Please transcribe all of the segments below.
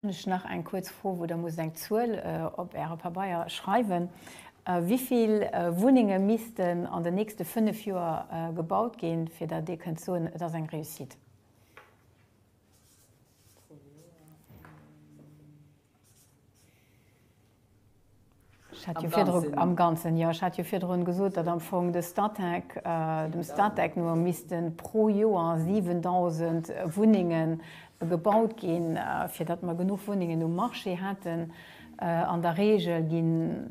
Hunn ech nach eng kuerz Fro, wou Der musst eng Zuel op Äre Pabeier schreiwen. Wéi vill Wunnenge missten an den nächste fënnef Joer gebaut ginn, fir datt Dir kënnt soen, et ass eng Réussite? Am Ganzen? Am Ganzen, jo. Ech hat jo virdrun gesot, datt am Fong de Statec, dem Statec no missten pro Joer 7.000 Wunnengen gebaut ginn, fir datt mer genuch Wunnengen um Marché hätten. An der Reegel ginn.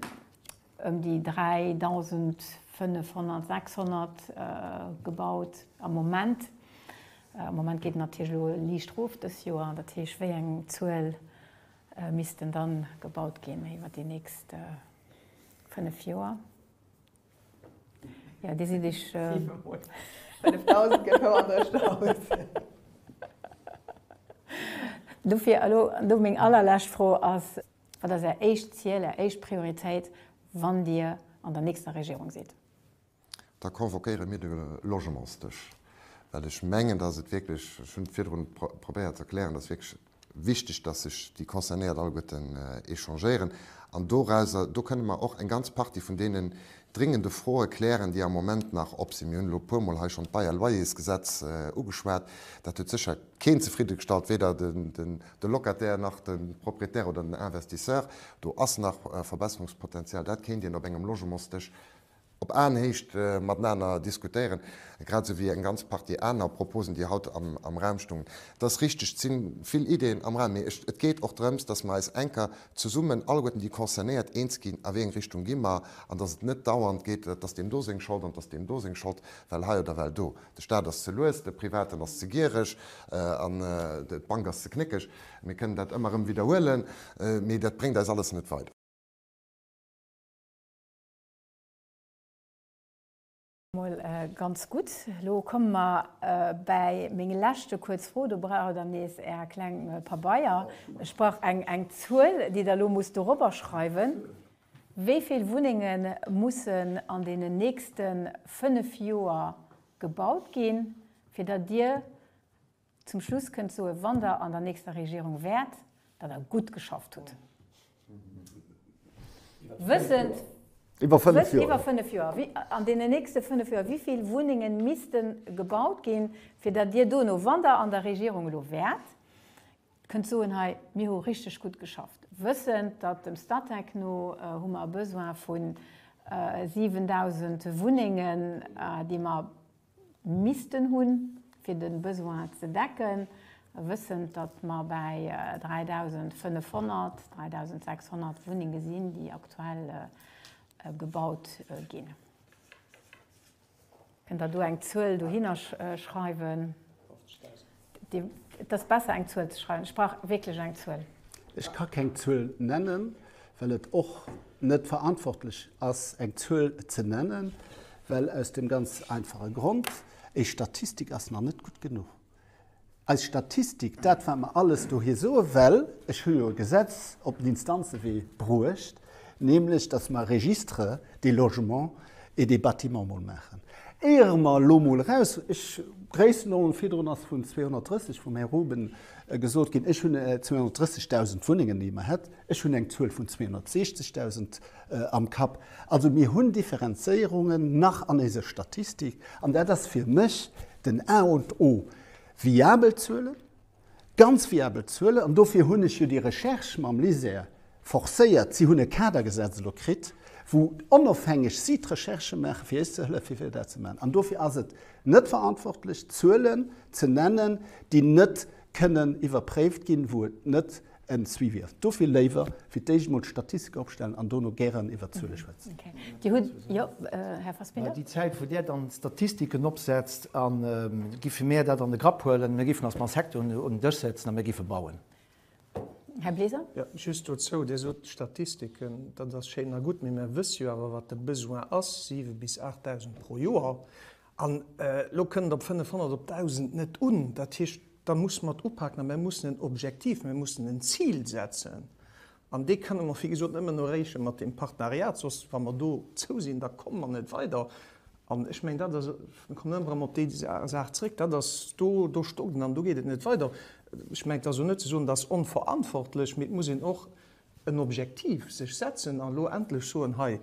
ëm déi 3.500, 600 gebaut am Moment. Am Moment geet et natierlech elo liicht erof dës Joer. Dat heescht, wéi eng Zuel missten da gebaut ginn iwwer déi nächst fënnef Joer? Jo, Dir sidd Iech. 7.000 gëtt houer net aus. Dofir elo do meng allerlescht Fro ass. Wat ass Är éischt Ziel, Är éischt Prioritéit, wann Dir an der nächster Regierung sidd? Da convoquéiere mir de Logementsdësch, well ech mengen, dass et wierklech, ech hunn et virdrun probéiert ze erklären, dass wierklech wichteg, dass sech déi Concernéiert alleguerten échangéieren. An dorauser, do kënne mer och eng ganz Partie vun deenen dringende Froe klären, déi am Moment nach op sinn. Mir hunn elo e puermol hei schonn d'Bail à loyers-Gesetz ugeschwat. Dat huet sécher keen zefridde gestallt, weder de Locataire nach de Propriétaire oder den Investisseur. Do ass nach Verbesserungspotenzial. Dat kéint een op engem Logementsdësch op Aenhéicht matenaner diskutéieren, grad esou wéi eng ganz Partie aner Proposen, déi haut am Raum stungen. Et ass richteg, et si vill Ideeën am Raum, mee et geet och drëms, dass mer eis enker zesummen, alleguerten déi Concernéiert, eens ginn, a wéi eng Richtung gi mer, an dass et net dauernd geet, dass deem do seng Schold an dass deem do seng Schold, well hei oder well do. De Staat ass ze lues, de Privaten ass ze giereg an d'Bank ass ze knéckeg. Mir kënnen dat ëmmer erëm widderhuelen, mee dat bréngt eis alles net weider. Mol ganz gutt. Elo komme mer bäi meng leschte kuerz Fro. Do brauch et dann nees Är kleng Pabeier. Ech brauch eng Zuel, déi Der elo musst dorobber schreiwen. Wéi vill Wunnenge mussen an deenen nächste fënnef Joer gebaut ginn, fir datt Dir zum Schluss kënnt soen, wann Der an der nächster Regierung wäert, datt Der gutt geschafft hutt? Wëssend, Iwwer fënnef Joer. Iwwer fënnef Joer. An deenen nächste fënnef Joer, wéi vill Wunnenge misste gebaut ginn, fir datt Dir dono, wann Der an der Regierung elo wäert, Kënnt soen, hei, mir hu richteg gutt geschafft, wëssend, datt dem Statec no hu mer e Besoin vu 7.000 Wunnengen, déi mer missten hunn, fir de Besoin ze decken, wëssend, datt mer bäi 3.500, 3.600 Wunnenge sinn, déi aktuell gebaut ginn. Kënnt der do eng Zuel dohinner schreiwen? 50.000. Et ass besser eng Zuel ze schreiwen. Ech brauch wierklech eng Zuel. Ech ka keng Zuel nennen, well et och net verantwortlech ass eng Zuel ze nennen, well aus dem ganz einfache Grond, Eis Statistik ass nach net gutt genuch. Eis Statistik, dat wat mer alles dohi soe, well ech hu jo e Gesetz op den Instanzewee bruecht, nämlech datt mer e Registre des logements et des bâtiments mol maachen, éiere mer elo mol eraus, ech, Gréissenordnung, virdrun ass vun 230 vum Här Ruben gesot ginn, ech hunn 230.000 Wunnengen, déi mer hätt, ech hunn eng Zuel vun 260.000. Am Kapp. Also mir hunn Differenzéierungen nach an éise Statistik, an dat ass fir mech den A und O. Viabel Zuelen, ganz viabel Zuelen, an dofir hunn ech jo déi Recherche mam LISER forcéiert. Si hunn e Kadergesetz elo kritt, wou onofhängeg si d'Recherche maachen, fir eis ze hëllefen, fir dat ze maachen. An dofir ass et net verantwortlech, Zuelen ze nennen, déi net kënnen iwwerpréift ginn, wou et net en Suivi ass. Dofir léiwer fir d'éischt mol d'Statistike opstellen an dono gären iwwert d'Zuele schwätzen. Dir hutt, jo, Här Fassbinder. Déi Zäit, wou Dir dann d'Statistiken opsetzt, giffe mir dat an de Grapp huelen. Mir giffen eis mam Secteur un den Dësch setzen a mir giffe bauen. Här Bleser. Jo, just dozou, Dir sot d'Statistiken, dat ass schéin a gutt, mee mir wësse jo awer, wat de Besoin ass, siwe bis aacht Dausend pro Joer. An elo kënnt op 500, op 1.000 net un. Dat heescht, da muss mat upaken a mir mussen en Objektiv, mir mussen en Zil setzen. An dee kënne mer, wéi gesot, nëmmen erreeche mat deem Partenariat. Soss, wa mer dozou sinn, da komme mer net weider. An ech mengen, dat ass, ech kommen ëmmer erëm op déi Saach zrëck, dat ass, do, do stockt et an do geet et net weider. Ech mengen, et ass och net ze soen, dat ass onverantwortlech, mee et muss een och en Objektiv sech setzen a lo endlech soen, hei,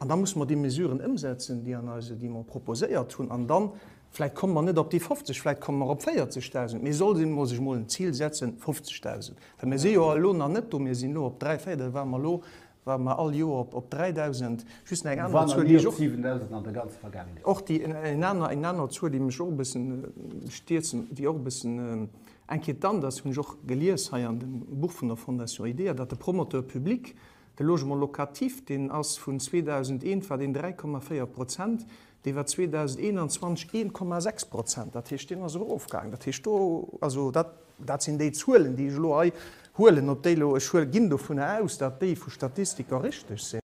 an da musse mer déi Mesuren ëmsetzen, déi an eise, déi mer proposéiert hunn, an dann, vläicht komme mer net op déi 50, vläicht komme mer op 40.000, mee soll een emol sech emol en Zil setzen, 50.000, well mir si jo elo nach net do, mir sinn elo op dräi, véier, da ware mer elo, ware mer all Joer op, op 3.000, just nach eng aner Zuel, déi ech och, och déi, eng aner, eng aner Zuel, déi mech och e bëssen stierzen, déi och e bëssen, Eng Kéier d'Anders hunn ech och gelies hei an dem Buch vun der Fondation IDEA, datt de Promoteur public de Logement locatif, deen ass vun 2001 war deen 3,4 Prozent, dee war 2021 1,6 Prozent. Dat heescht, deen ass erofgaangen. Dat heescht, do, also dat, dat sinn déi Zuelen, déi ech elo hei huelen. Ob déi elo, ech huel, ginn dovunner aus, datt déi vu Statistiker richteg sinn.